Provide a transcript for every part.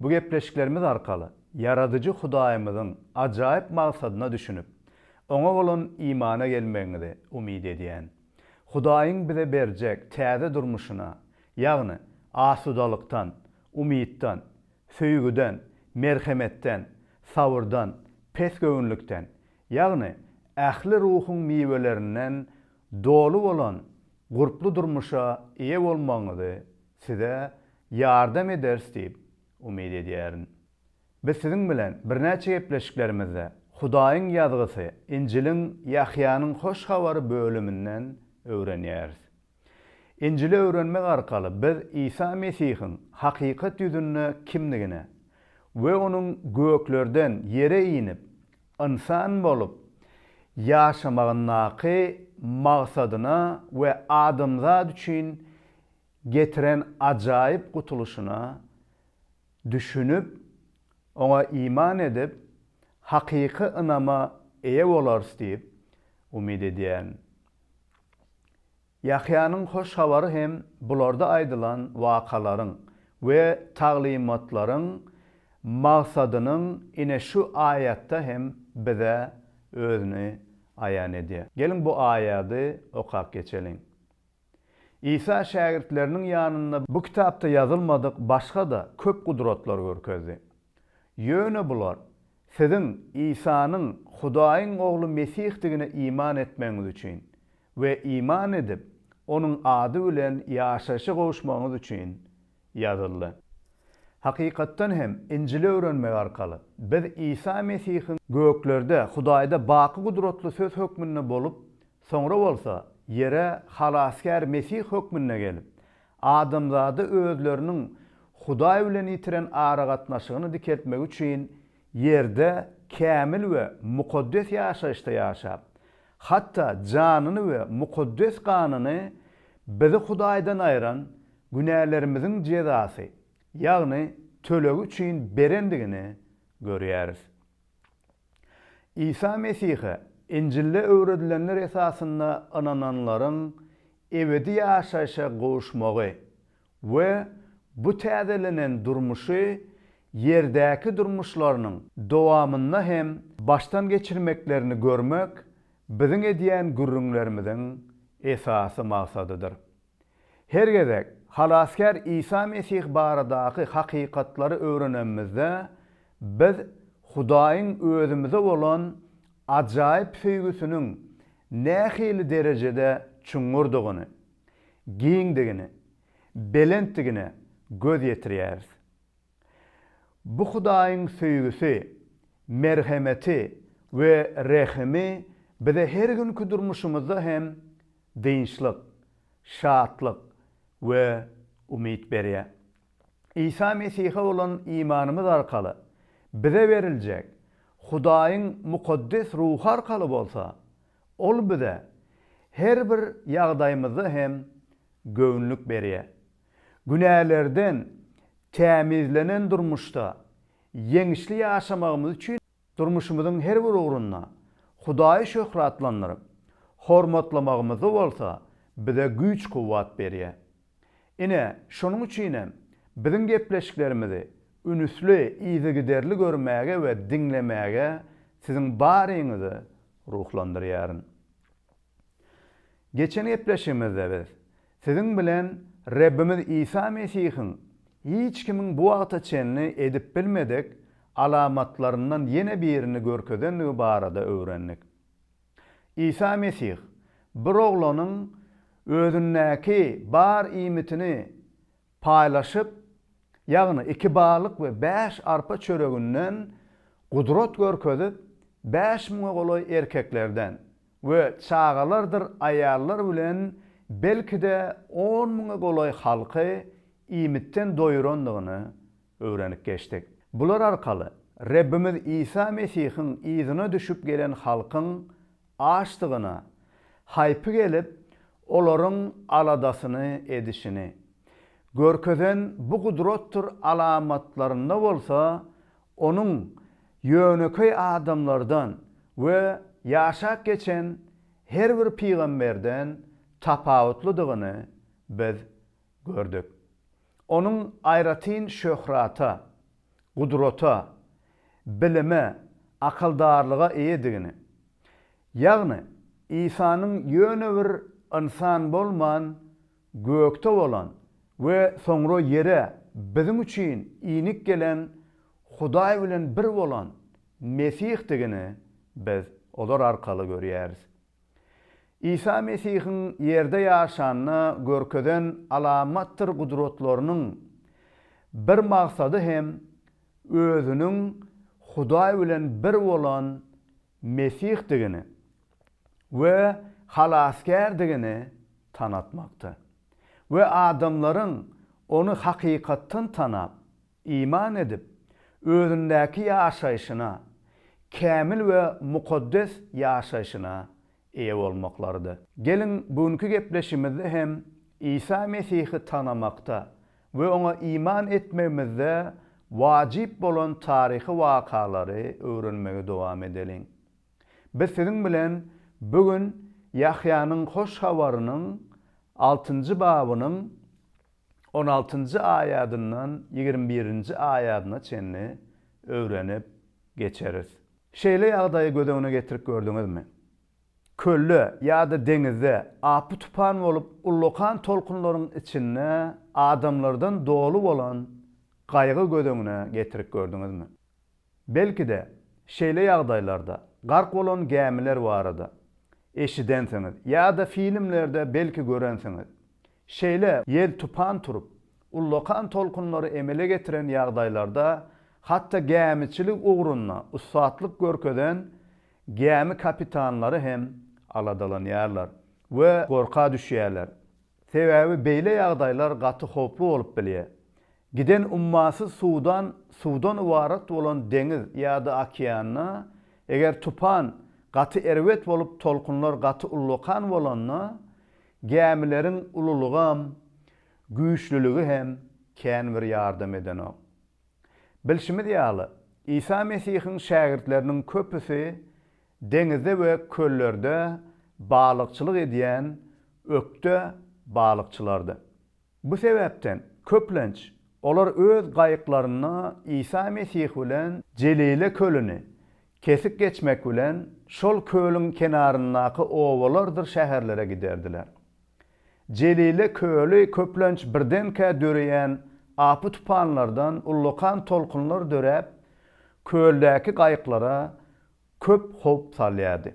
Bu gepleşiklerimiz arkaly Ýaradyjy Hudaýymyzyň ajaýyp magsadyna düşünip, Oňa bolan imana gelmegiňizi umyt edýän. Hudaýyň bize berjek täze durmuşyna, ýagny asudalykdan, umytdan, söýgüden, merhemetden, sabyrdan, pesgöwünlikden, ýagny ähli ruhuň miwelerinden doly bolan gurply durmuşa eýe bolmagyňyzy Size ýardam ederis diýip umyt edýärin. Biz siziň bilen birnäçe gepleşiklerimizde Hudaýyň Ýazgysy, Injiliň Ýahýanyň Hoş Habary bölüminden öwrenýäris. Injili öwrenmek arkaly biz Isa Mesihiň hakykat ýüzünde kimdigine we onuň göklerden ýere inip, ynsan bolup ýaşamagyndaky maksadyna we adamzat üçin getiren ajaýyp gutulyşyna düşünip, oňa iman edip, hakyky ynama eýe bolarys diýip, umyt edýän. Ýahýanyň Hoş Habary hem bularda aýdylan wakalaryň we taglymatlaryň magsadynyň ine şu aýatda hem bize özüni aýan edýär. Geliň bu aýady okap geçeliň. Isa şägirtleriniň ýanynda bu kitapda ýazylmadyk başga-da köp gudratlar görkezdi. Ýöne bular, siziň Isanyň Hudaýyň Ogly Mesihdigine iman etmegiňiz üçin we iman edip, Onuň ady bilen ýaşaýşa gowuşmagyňyz üçin ýazyldy. Hakykatdan hem, Injili öwrenmek arkaly, biz Isa Mesihiň göklerde Hudaýda baky gudratly söz hökmünde bolup, Soňra bolsa ýere Halasgär Mesih hökmünde gelip, adamzada özleriniň Hudaý bilen ýitiren aragatnaşygyny dikeltmek üçin ýerde kämil we mukaddes ýaşaýyşda ýaşap, hatda janyny we mukaddes ganyny bizi Hudaýdan aýran günälerimiziň jezasy, ýagny tölegi üçin berendigini görýäris. Isa Mesihe, Injilde öwredilenler esasynda ynananlaryň ebedi ýaşaýşa gowuşmagy we bu täzelenen durmuşy ýerdäki durmuşlarynyň dowamynda hem başdan geçirmeklerini görmek biziň edýän gürrüňlerimiziň esasy maksadydyr. Her gezek Halasgär Isa Mesih baradaky hakykatlary öwrenemizde, biz Hudaýyň özümize bolan ajaýyp söýgüsiniň nähili derejede çuňňurdygyny, giňdigini, belentdigine göz ýetirýäris. Bu Hudaýyň söýgüsi, merhemeti we rehimi bize her günki durmuşymyzda hem dynçlyk, şatlyk we umyt berýär. Isa Mesihe bolan imanymyz arkaly bize beriljek Hudaýyň mukaddes ruhy arkaly bolsa, ol bize her bir ýagdaýymyzda hem göwünlik berýär. Günälerden tämizlenen durmuşda ýeňişli ýaşamagymyz üçin Durmuşymyzyň her bir ugrunda Hudaýy şöhratlandyryp, hormatlamagymyzda bolsa bize güýç-kuwwat berýär. Ine, şonuň üçin hem biziň gepleşiklerimizi ünüsli, yzygiderli görmäge we diňlemäge siziň baryňyzy ruhlandyrýaryn. Geçen gepleşigimizde biz Siziň bilen Rebbimiz Isa Mesihiň hiç kimiň bu wagta çenli edip bilmedik alamatlaryndan ýene birini görkezendigi barada öwrendik. Isa Mesih bir oglanyň özündäki bar iýmitini paýlaşyp, ýagny iki balyk we bäş arpa çöreginden gudrat görkezip, bäş müňe golaý erkeklerden we çagalardyr aýallar bilen belki-de on müňe golaý halky iýmitden doýurandygyny öwrenip geçdik. Bular arkaly Rebbimiz Isa Mesihiň yzyna düşüp gelen halkyň açdygyna haýpy gelip, olaryň aladasyny edişini görkezen bu gudratdyr alamatlarynda bolsa Onuň ýönekeý adamlardan we ýaşap geçen her bir pygamberden tapawutlydygyny biz gördük. Onuň aýratyn şöhrata, gudrata, bilime, akaldarlyga eýedigini, ýagny Isanyň ýöne bir ynsan bolman, gökde bolan we soňra ýere biziň üçin inip gelen Hudaý bilen bir bolan Mesihdigini biz olar arkaly görýäris. Isa Mesihiň ýerde ýaşanda görkezen alamatdyr gudratlarynyň bir maksady hem özüniň Hudaý bilen bir bolan Mesihdigini we Halasgärdigini tanatmakdy we adamlaryň ony hakykatdan tanap, Iman edip, özündäki ýaşaýşyna, kämil we mukaddes ýaşaýşyna eýe bolmaklarydy. Geliň, bu günki gepleşimizde hem Isa Mesihi tanamakda we oňa iman etmegimizde wajyp bolan taryhy wakalary öwrenmegi dowam edeliň. Biz siziň bilen bu gün Ýahýanyň Hoş Habarynyň altynjy babynyň, on altynjy aýadyndan ýigrimi birinji aýadyna çenli öwrenip geçeris. Şeýle ýagdaýy göz öňüne getirip gördüňizmi? Kölde ýa-da deňizde apy-tupan bolup ullakan tolkunlaryň içinde adamlardan doly bolan gaýgy göz öňüne getirip gördüňizmi? Belki-de, şeýle ýagdaýlarda gark bolan gämiler barada eşidensiňiz ýa-da filmlerde belki görensiňiz. Şeýle ýel-tupan turup, ullakan tolkunlary emele getiren ýagdaýlarda hatda gämiçilik ugrunda ussatlyk görkezen gämi kapitanlary hem aladalanýarlar we gorka düşýärler. Sebäbi beýle ýagdaýlar gaty howply bolup bilýär. Giden ummasyz suwdan suwdan ybarat bolan deňiz ýa-da okeanda, eger tupan gaty erbet bolup tolkunlar gaty ullakan bolanda, gämileriň ululygam, güýçlüligi hem kän bir ýardam edenok. Bilşimiz ýaly, Isa Mesihiň şägirtleriniň köpüsi Deňizde we köllerde balykçylyk edýän ökde balykçylardy. Bu sebäpden, köplenç, olar öz gaýyklarynda Isa Mesih bilen Jelile kölüni kesip geçmek bilen, şol kölüň kenaryndaky obalardyr şäherlere giderdiler. Jelile köli köplenç birdenkä döreýän apy-tupanlardan ullakan tolkunlar döräp, köldäki gaýyklara köp howp salýardy.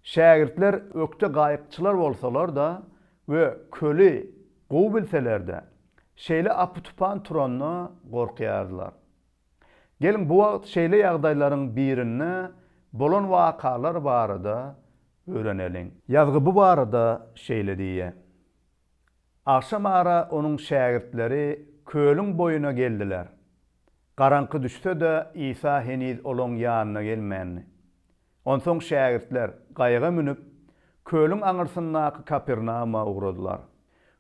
Şägirtler ökde gaýykçylar bolsalar-da we köli gowy bilseler-de, şeýle apy-tupan turanda gorkýardylar. Geliň, bu wagt şeýle ýagdaýlaryň birinde bolan wakalar barada öwreneliň. Ýazgy bu barada şeýle diýýär, Agşam ara onuň şägirtleri kölüň boýuna geldiler. Garaňky düşse-de, Isa heniz olaň ýanyna gelmändi. Onsoň şägirtler gaýyga münüp, kölüň aňyrsyndaky Kapernawuma ugradylar.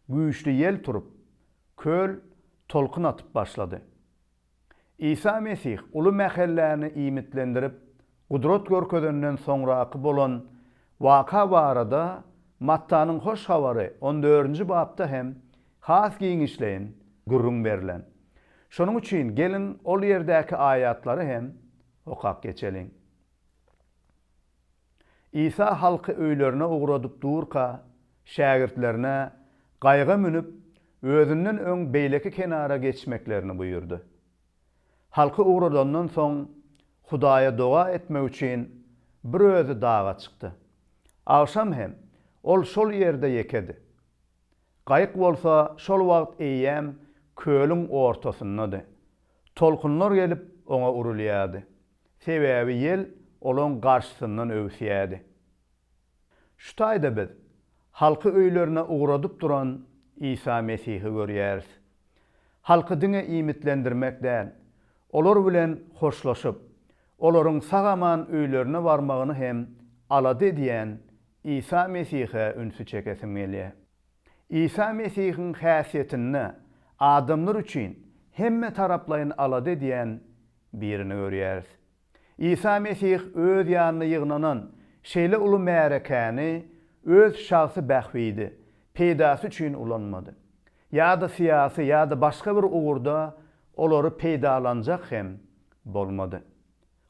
Güýçli ýel turup, köl tolkun atyp başlady. Isa Mesih uly mähelläni iýmitlendirip, gudrat görkezenden soňraky bolan waka barada Mattanyň Hoş Habary on dördünji bapda hem has giňişleýin gürrüň berlen. Şonuň üçin geliň ol ýerdäki aýatlary hem okap geçeliň. Isa halky öýlerine ugradyp durka, şägirtlerine, Gaýyga münüp, Özünden öň beýleki kenara geçmeklerini buýurdy. Halky ugradandan soň, Hudaýa doga etmek üçin, bir özi daga çykdy. Agşam hem Ol şol ýerde ýekedi. Gaýyk bolsa şol wagt eýýäm kölüň ortasyndady. Tolkunlar gelip, Oňa urulýardy. sebäbi ýel olaň garşysyndan öwüsýärdi. Şu taýda biz halky öýlerine ugradyp duran Isa Mesihi görýäris. Halky diňe iýmitlendirmek däl, olar bilen hoşlaşyp, olaryň sag-aman öýlerine barmagyny hem alada edýän Isa Mesihe ünsi çekesim gelýär. Isa Mesihiň häsiýetinde adamlar üçin hemmetaraplaýyn alada edýän birini görýäris. Isa Mesih öz ýanyna ýygnanan şeýle uly märekäni öz şahsy bähbidi, peýdasy üçin ulanmady. Ýa-da syýasy ýa-da başga bir ugurda olary peýdalanjak hem bolmady.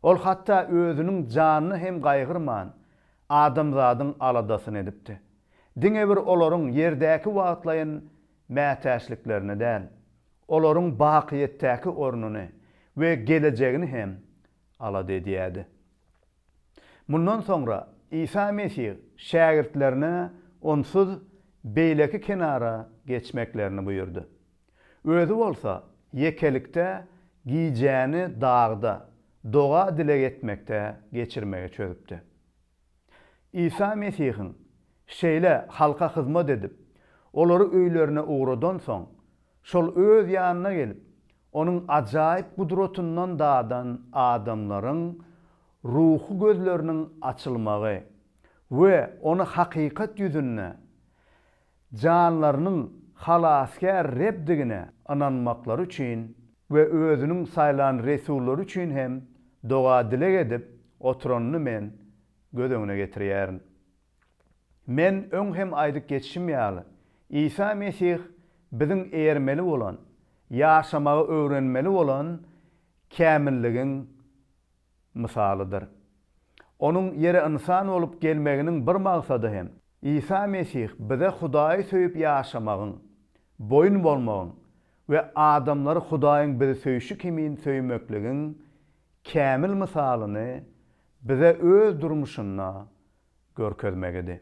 Ol hatda özüniň janyny hem gaýgyrman, adamzadyň aladasyny edipdi. Diňe bir olaryň ýerdäki wagtlaýyn mätäçliklerini däl, olaryň bakyýetdäki ornuny we gelejegini hem alada edýärdi. Mundan soňra Isa Mesih şägirtlerine onsuz beýleki kenara geçmeklerini buýurdy. Özi bolsa ýekelikde gijäni dagda doga-dileg etmekde geçirmegi çözüpdi. Isa Mesihiň şeýle halka hyzmat edip, olary öýlerine ugradansoň, şol Öz ýanyna gelip, Onuň ajaýyp gudratyndan dadan adamlaryň ruhy gözleriniň açylmagy we Ony hakykat ýüzünde janlarynyň Halasgär Rebdigine ynanmaklary üçin we Özüniň saýlan resullary üçin hem doga-dileg edip oturanyny men göz öňüne getirýärin. Men öň hem aýdyp geçişim ýaly, Isa Mesih biziň eýermeli bolan, ýaşamagy öwrenmeli bolan kämilligiň mysalydyr. Onuň ýere ynsan bolup gelmeginiň bir maksady hem Isa Mesih bize Hudaýy söýüp ýaşamagyň, boýun bolmagyň we adamlary Hudaýyň bizi söýşi kimin söýmekligiň kämil mysalyny bize öz durmuşynda görkezmegidi.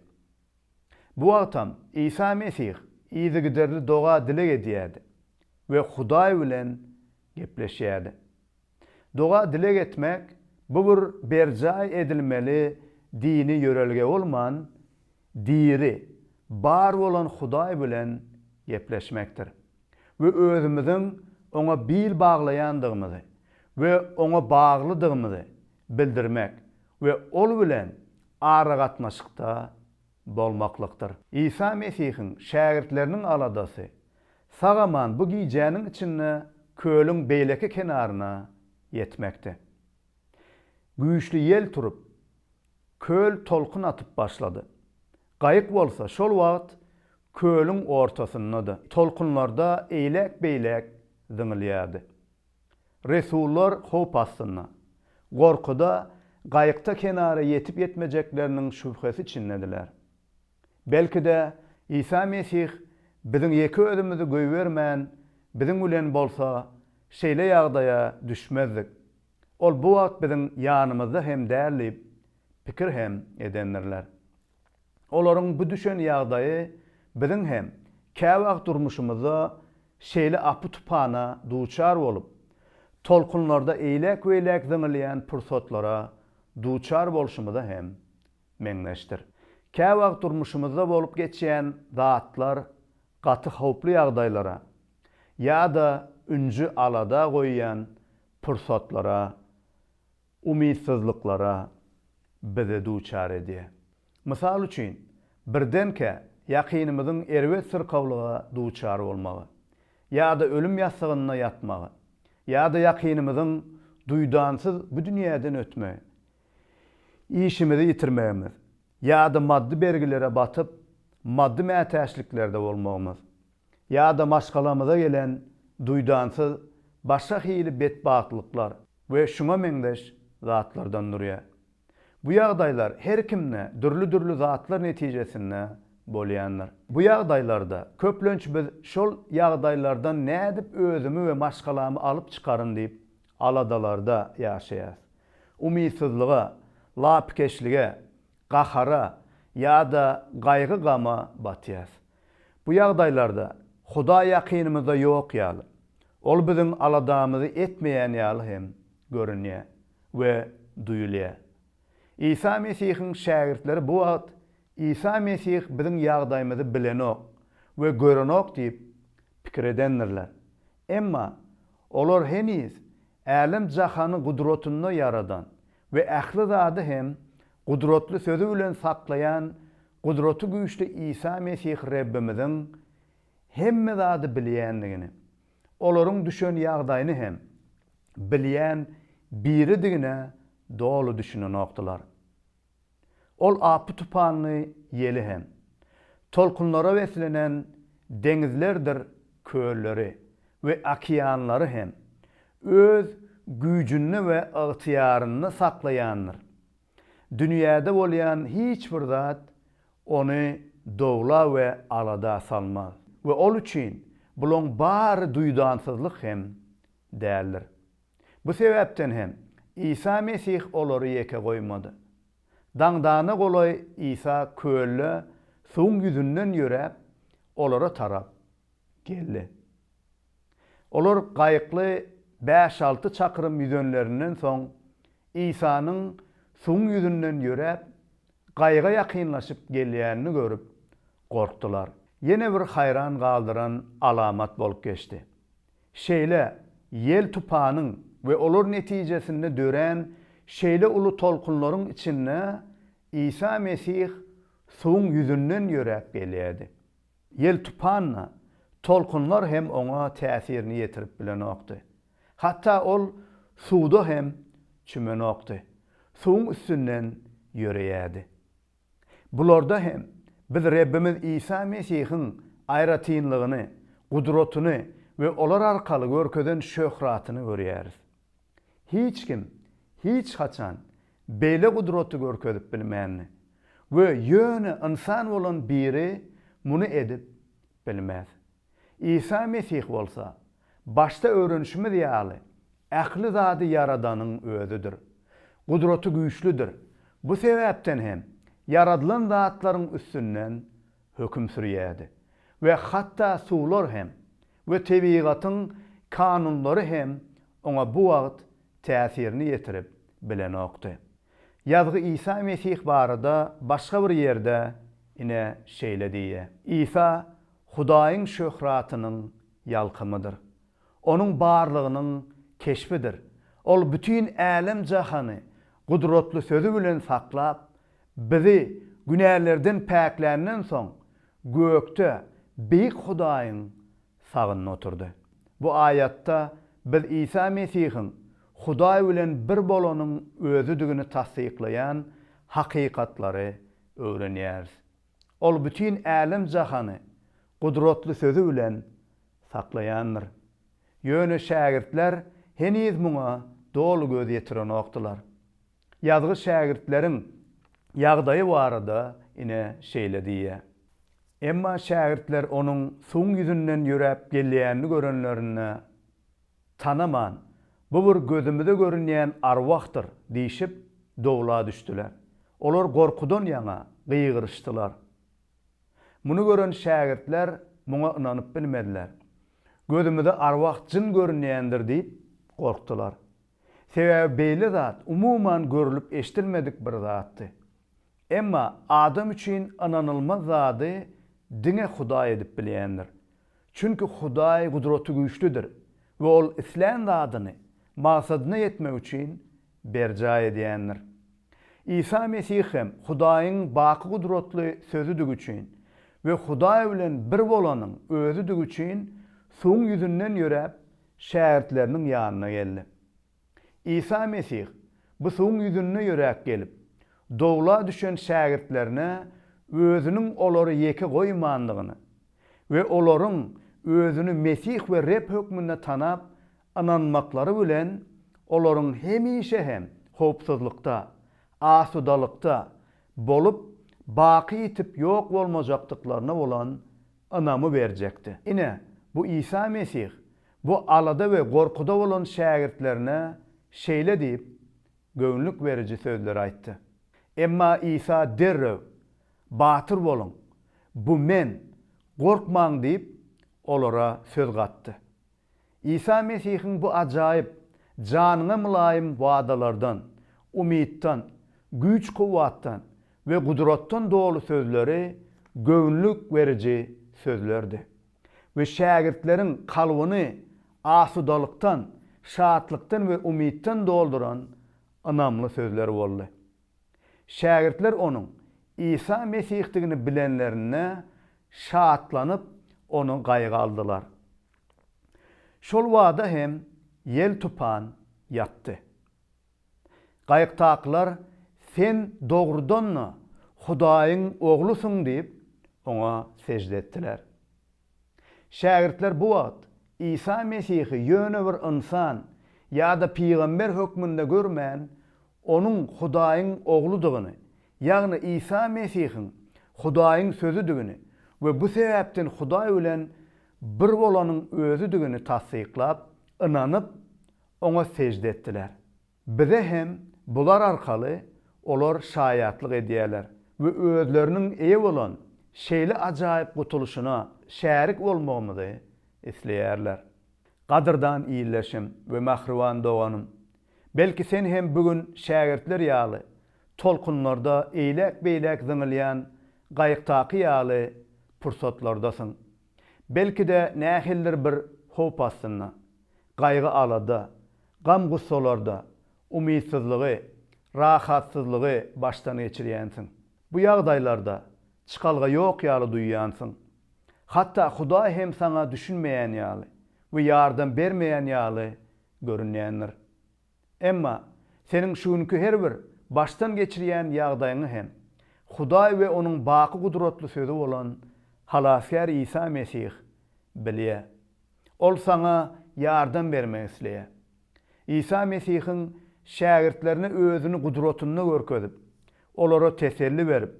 Bu wagtam Isa Mesih yzygiderli doga-dileg edýärdi we Hudaý bilen gepleşýärdi. Doga-dileg etmek, bu bir berjaý edilmeli dini ýörelge bolman, diri, bar bolan Hudaý bilen gepleşmekdir we özümiziň Oňa bil baglaýandygymyzy we Oňa baglydygymyzy bildirmek we Ol bilen aragatnaşykda bolmaklykdyr. Isa Mesihiň şägirtleriniň aladasy sag-aman bu gijäniň içinde kölüň beýleki kenaryna ýetmekdi. Güýçli ýel turup, köl tolkun atyp başlady. Gaýyk bolsa şol wagt kölüň ortasyndady, tolkunlarda eýläk-beýläk zyňylýardy. Resullar howp astynda. Gorkuda gaýykda kenara ýetip-ýetmejekleriniň şübhesi içindediler. Belki-de, Isa Mesih biziň ýeke özümizi goýbermän, biziň bilen bolsa, şeýle ýagdaýa düşmezdik. Ol bu wagt biziň ýanymyzda hem däl diýip, pikir hem edendirler. Olaryň bu düşen ýagdaýy biziň hem käwagt durmuşymyzda şeýle apy-tupana duçar bolup, tolkunlarda eýläk-beýläk zyňylýan pursatlara duçar bolşumyza hem meňzeşdir. Käwagt durmuşymyzda bolup geçýän zatlar gaty howply ýagdaýlara ýa-da ünji-alada goýýan pursatlara umytsyzlyklara bizi duçar edýär. Mysal üçin, birdenkä ýakynymyzyň erbet syrkawlyga duçar bolmagy, ýa-da ölüm ýassygynda ýatmagy, ýa-da ýakynymyzyň duýdansyz bu dünýäden ötmegi, işimizi ýitirmegimiz, ýa-da maddy bergilere batyp, maddy mätäçliklerde bolmagymyz, ýa-da maşgalamyza gelen duýdansyz başga hili betbagtlyklar we şuňa meňzeş zatlardan durýar. Bu ýagdaýlar her kimde dürli-dürli zatlar netijesinde bolýandyr. Bu ýagdaýlarda köplenç biz şol ýagdaýlardan nädip özümi we maşgalamy alyp çykaryn diýip aladalarda ýaşaýarys. Umytsyzlyga, lapykeçlige, gahara ýa-da gaýgy-gama batýarys. Bu ýagdaýlarda Hudaý ýakynymyzda ýok ýaly, Ol biziň aladamyzy etmeýän ýaly hem görünýär we duýulýar. Isa Mesihiň şägirtleri bu wagt Isa Mesih biziň ýagdaýymyzy bilenok we görenok diýip pikir edendirler. Emma olar heniz Älem-jahany gudratynda ýaradan we ähli zady hem gudratly sözi bilen saklaýan gudraty güýçli Isa Mesih Rebbimiziň hemme zady bilýändigini, olaryň düşen ýagdaýyny hem bilýän Biridigine doly düşünenokdylar. Ol apy-tupanly ýeli hem. Tolkunlara beslenen deňizlerdir kölleri we okeanlary hem öz güýjünde we ygtyýarynda saklaýandyr. Dünýäde bolýan hiç bir zat ony dowla we alada salmaz we ol üçin bulaň bary duýdansyzlyk hem däldir. Bu sebäpden hem Isa Mesih olary ýeke goýmady. Daňdana golaý Isa kölde suwuň ýüzünden ýöräp, olara tarap geldi. Olar gaýykly bäş-alty çakrym ýüzenlerinden soň, Isanyň suwuň ýüzünden ýöräp, gaýyga ýakynlaşyp gelýänini görüp, gorkdular. Ýene bir haýran galdyran alamat bolup geçdi. Şeýle ýel tupanyň we olar netijesinde dörän şeýle uly tolkunlaryň içinde Isa Mesih suwuň ýüzünden ýöräp gelýärdi. Ýel tupan-da, tolkunlar hem oňa täsirini ýetirip bilenokdy. Hatda ol suwda hem çümenokdy. Suwuň üstünden ýöreýärdi. Bularda hem biz Rebbimiz Isa Mesihiň aýratynlygyny, gudratyny we olar arkaly görkezen şöhratyny görýäris. Hiç kim hiç haçan beýle gudraty görkezip bilmändi we ýöne ynsan bolan biri muny edip bilmez. Isa Mesih bolsa, başda öwrenişimiz ýaly, ähli zady ýaradanyň Özüdir. Gudraty güýçlüdir. Bu sebäpden hem ýaradylan zatlaryň üstünden höküm sürýärdi. We hatda suwlar hem we tebigatyň kanunlary hem Oňa bu wagt täsirini ýetirip bilenokdy. Ýazgy Isa Mesih barada başga bir ýerde ine şeýle diýýär. Isa Hudaýyň şöhratynyň ýalkymydyr. Onuň barlygynyň keşbidir. Ol bütin älem-jahany gudratly sözi bilen saklap, bizi günälerden päkländen soň, gökde beýik Hudaýyň sagynda oturdy. Bu aýatda biz Isa Mesihiň Hudaý bilen bir bolanyň Özüdigini tassyklaýan hakykatlary öwrenýäris. Ol bütin älem-jahany gudratly sözi bilen saklaýandyr. Ýöne şägirtler heniz muňa doly göz ýetirenokdylar. Ýazgy şägirtleriň ýagdaýy barada ine şeýle diýýär. Emma şägirtler onuň suwuň ýüzünden ýöräp gelýänini görenlerinde. Tanaman, bu bir gözümize görünýän arwahdyr diýşip, dowla düşdüler. Olar gorkudan ýaňa gygyryşdylar. Muny gören şägirtler muňa ynanyp bilmediler. Gözümize arwah jyn görünýändir diýip gorkdular. Sebäbi beýle zat umuman görlüp-eşidilmedik bir zatdy. Emma adam üçin ynanylmaz zady diňe Hudaý edip bilýändir. Çünki Hudaý gudratygüýçlidir we ol islän zadyny maksadyna ýetmek üçin berjaý edýändir. Isa Mesih hem Hudaýyň baky gudratly Sözüdigi üçin we Hudaý bilen bir bolanyň Özüdigi üçin suwuň ýüzünden ýöräp, şägirtleriniň ýanyna geldi. Isa Mesih bu suwuň ýüzünde ýöräp gelip, dowla düşen şägirtlerine Özüniň olary ýeke goýmandygyny we olaryň Özüni Mesih we Reb hökmünde tanap, ynanmaklary bilen, olaryň hemişe hem howpsuzlykda, asudalykda bolup, baky ýitip ýok bolmajakdyklaryna bolan ynamy berjekdi. Ine, bu Isa Mesih Bu alada we gorkuda bolan şägirtlerine şeýle diýip, göwnlük beriji sözleri aýtdy. Emma Isa derrew, Batyr boluň! Bu Men! Gorkmaň diýip, olara söz gatdy. Isa Mesihiň bu ajaýyp, janyňa mylaýym wadalardan, umytdan, güýç-kuwwatdan we gudratdan doly sözleri göwnlük beriji sözlerdi. we şägirtleriň kalbyny asudalykdan, şatlykdan we umytdan dolduran ynamly sözler boldy. Şägirtler onuň Isa Mesihdigini bilenlerinde şatlanyp, ony gaýga aldylar. Şol bada hem ýel-tupan ýatdy. Gaýykdakylar Sen dogrudan-da Hudaýyň Oglusyň diýip, oňa sežde etdiler. Şägirtler bu wagt Isa Mesihi ýöne bir ynsan ýa-da pygamber hökmünde görmän, onuň Hudaýyň Ogludygyny, ýagny Isa Mesihiň Hudaýyň Sözüdigini we bu sebäpden Hudaý bilen bir bolanyň Özüdigini tassyklap, ynanyp, Oňa sežde etdiler. Bize hem bular arkaly olar şaýatlyk edýärler we özleriniň eýe bolan şeýle ajaýyp gutulyşyna şärik bolmagymyzy isleýärler. Gadyrdan ildeşim we mähriban doganym, belki sen hem bu gün şägirtler ýaly tolkunlarda eýläk-beýläk zyňylýan gaýykdaky ýaly pursatlardasyň. Belki-de nähilidir bir howp astynda. gaýgy-alada, gam-gussalarda umytsyzlygy, rahatsyzlygy başdan geçirýänsiň. Bu ýagdaýlarda çykalga ýok ýaly duýýansyň. Hatda Hudaý hem saňa düşünmeýän ýaly we ýardam bermeýän ýaly görünýändir. Emma, seniň şu günki her bir başdan geçirýän ýagdaýyňy hem Hudaý we Onuň baky gudratly Sözi bolan Halasgär Isa Mesih bilýär. Ol saňa ýardam bermek isleýär. Isa Mesihiň şägirtlerine Özüni gudratynda görkezip, olara teselli berip,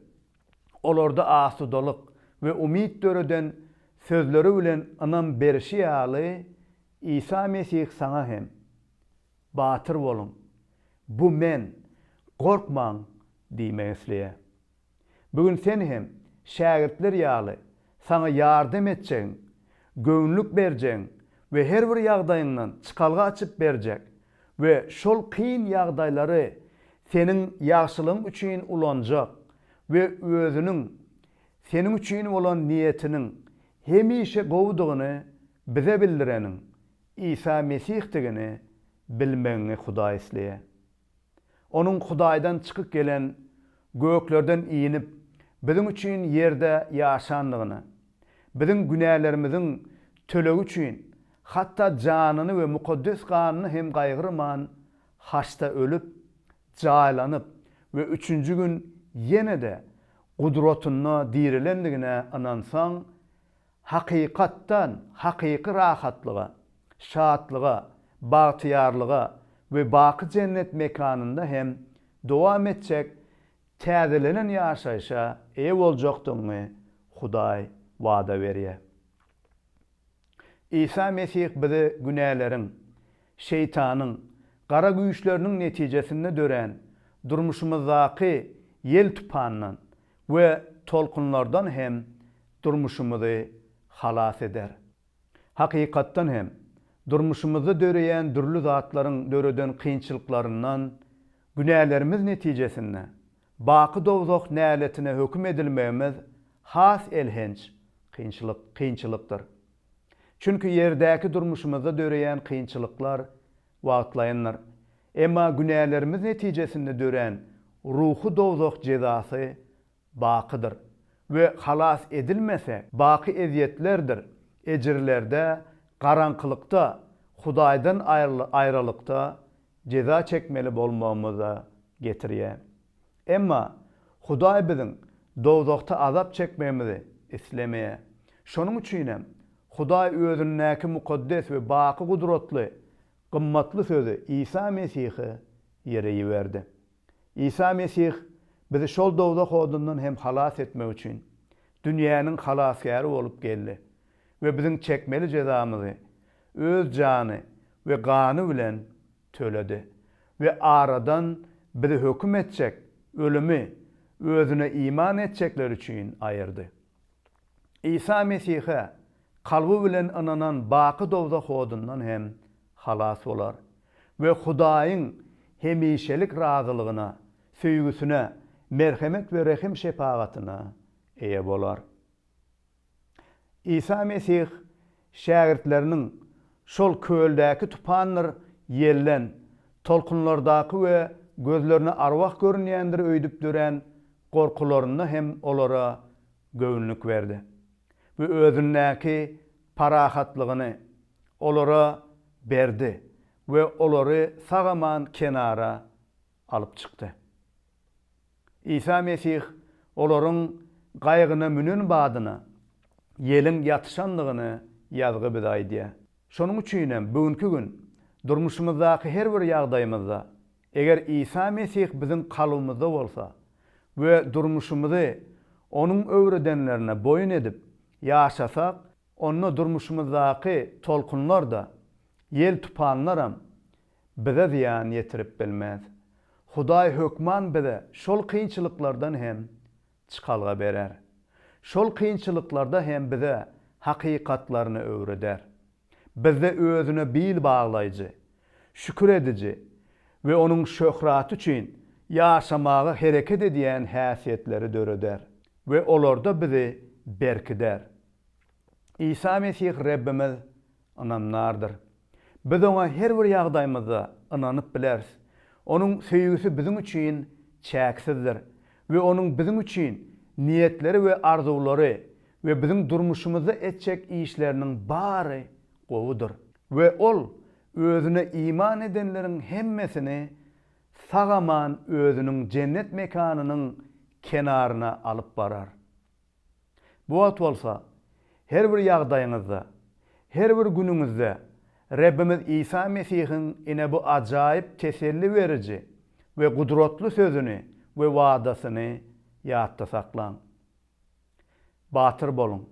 olarda asudalyk we umyt döreden sözleri bilen ynam berişi ýaly, Isa Mesih saňa hem, Batyr boluň, bu Men, gorkmaň! diýmek isleýär. Bu gün sen hem şägirtler ýaly saňa ýardam etjegiň, göwünlik berjegiň we her bir ýagdaýyňdan çykalga açyp berjek we şol kyn ýagdaýlary seniň ýagşylygyň üçin ulanjak we Özüniň seniň üçin bolan niýetiniň hemişe gowudygyny Bize bildireniň Isa Mesihdigini bilmegiňi Hudaý isleýär. Onuň Hudaýdan çykyp gelen, göklerden inip, biziň üçin ýerde ýaşandygyny, biziň günälerimiziň tölegi üçin hatda janyny we mukaddes ganyny hem gaýgyrman, haçda ölüp, jaýlanyp we üçünji gün ýene-de Gudratynda dirilendigine ynansaň, Hakykatdan, hakyky rahatlyga, şatlyga, bagtyýarlyga we baky jennet mekanynda hem dowam etjek täzelenen ýaşaýşa eýe boljakdygyňy Hudaý wada berýär. Isa Mesih bizi günäleriň, Şeýtanyň, gara güýçleriniň netijesinde dörän durmuşymyzdaky ýel-tupandan, we tolkunlardan hem durmuşymyzy halas eder. Hakykatdan hem, durmuşymyzda döreýän dürli zatlaryň döreden kynçylyklaryndan, günälerimiz netijesinde, baky dowzah näletine höküm edilmegimiz has elhenç kynçylykdyr. Çünki ýerdäki durmuşymyzda döreýän kynçylyklar Wagtlaýyndyr. Emma günälerimiz netijesinde dörän ruhy dowzah jezasy bakydyr we halas edilmese, baky ezýetlerdir ejirlerde, garaňkylykda, Hudaýdan aýralykda jeza çekmeli bolmagymyza getirýär. Emma Hudaý biziň dowzahda azap çekmegimizi islemeýär. Şonuň üçin hem, Hudaý özündäki mukaddes we baky gudratly gymmatly Sözi Isa Mesihi ýere iberdi. Isa Mesih bizi şol dowzah odundan hem halas etmek üçin, dünýäniň Halasgäri bolup geldi we biziň çekmeli jezamyzy Öz jany we gany bilen töledi we aradan bizi höküm etjek, ölümi, Özüne iman etjekler üçin aýyrdy. Isa Mesihe kalby bilen ynanan baky dowzah odundan hem halas bolar we Hudaýyň hemişelik razylygyna, söýgüsine, merhemet we rehim-şepagatyna eýe bolar. Isa Mesih şägirtleriniň şol köldäki tupandyr ýelden, tolkunlardaky we gözlerine arwah görünýändir öýdüp dörän gorkularynda hem olara göwünlik berdi we Özündäki parahatlygyny olara berdi we olary sag-aman kenara alyp çykdy. Isa Mesih olaryň gaýygyna münen badyna ýeliň ýatyşandygyny ýazgy bize aýdýar. Şonuň üçin hem bu günki gün durmuşymyzdaky her bir ýagdaýymyzda, eger Isa Mesih biziň kalbymyzda bolsa we durmuşymyzy Onuň öwredenlerine boýun edip ýaşasak, onda durmuşymyzdaky tolkunlar-da, ýel-tupanlaram bize zyýan ýetirip bilmez. Hudaý hökman bize şol kynçylyklardan hem çykalga berer. Şol kynçylyklarda hem bize hakykatlaryny öwreder. Bizde özüne bil baglaýjy, şükür ediji we onuň şöhraty üçin ýaşamaga hereket edýän häsiýetleri döreder we olarda bizi berkider. Isa Mesih Rebbimiz ynamdardyr. Biz Oňa her bir ýagdaýymyzda ynanyp bileris. Onuň söýgüsi biziň üçin çäksizdir we Onuň biziň üçin niýetleri we arzuwlary we biziň durmuşymyzda etjek işleriniň bary gowudyr. We Ol Özüne iman edenleriň hemmesini sag-aman Özüniň jennet mekanynyň kenaryna alyp barar. Bu wagt bolsa, her bir ýagdaýyňyzda, her bir günüňizde Rebbimiz Isa Mesihiň ine bu ajaýyp teselli beriji we gudratly sözüni we wadasyny ýatda saklaň. Batyr boluň!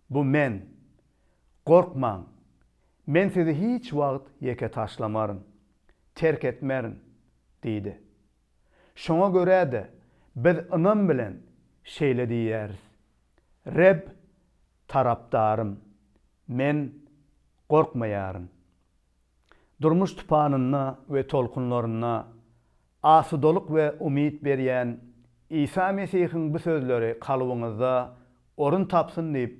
Bu Men! Gorkmaň! Men sizi hiç wagt ýeke taşlamaryn, terk etmerin! diýdi. Şoňa görä-de, biz ynam bilen şeýle diýýäris, Reb tarapdarym, men gorkmaýaryn. Durmuş tupanynda we tolkunlarynda asudalyk we umyt berýän Isa Mesihiň bu sözleri kalbyňyzda orun tapsyn diýip,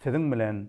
siziň bilen